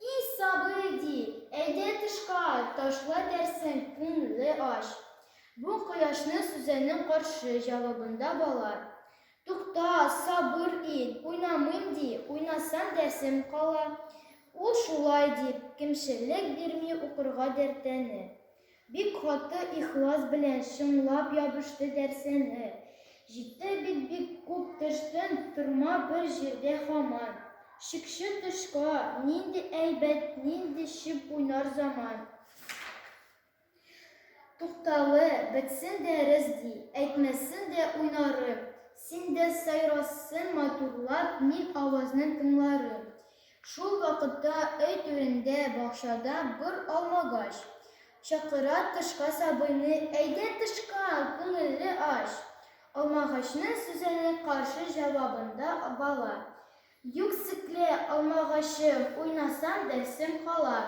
И сабый, ди, әйдә тышка, Ташла дәрсен, күңле ач. Бу кояшны сүзәнең каршы Җавабында бала, Тукта, сабыр ит, уйнамыйм, ди, Уйнасам дәрсем кала. Ул шулай дип, кимчелек бирми Укырга дәртәне. Бик каты ихлас белән чынлап ябышты дәрсәне. Җитте бит бик күп төштен, торма бер җирдә хаман. Чикче тышка, нинди әйбәт, нинди чеп уйнар заман. Туктале, бетсен дәрес ди, әйтмәсен дә уйнарым. Син дә сайрарсын матурлап, мин авазны тыңларым. Шул вакытта өй түрендә бакчада бор алмагач. Чакыра тышка сабыйны, Әйдә тышка, күңелле ач! Алмагачның сүзенең каршы җавабында бала. Юк секле, алмагачым, уйнасам дәрсем кала.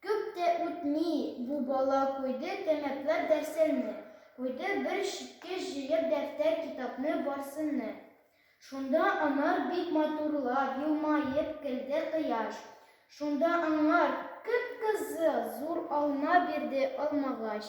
Күп тә үтми, бу бала куйды тәмәкләп дәрсенне, куйды бер читкә җыеп дәфтәр-китапны барсынны. Шунда анар бик матурлап елмаеп көлде Кояш. Шунда аңар кып-кызыл зур алма бирде Алмагач.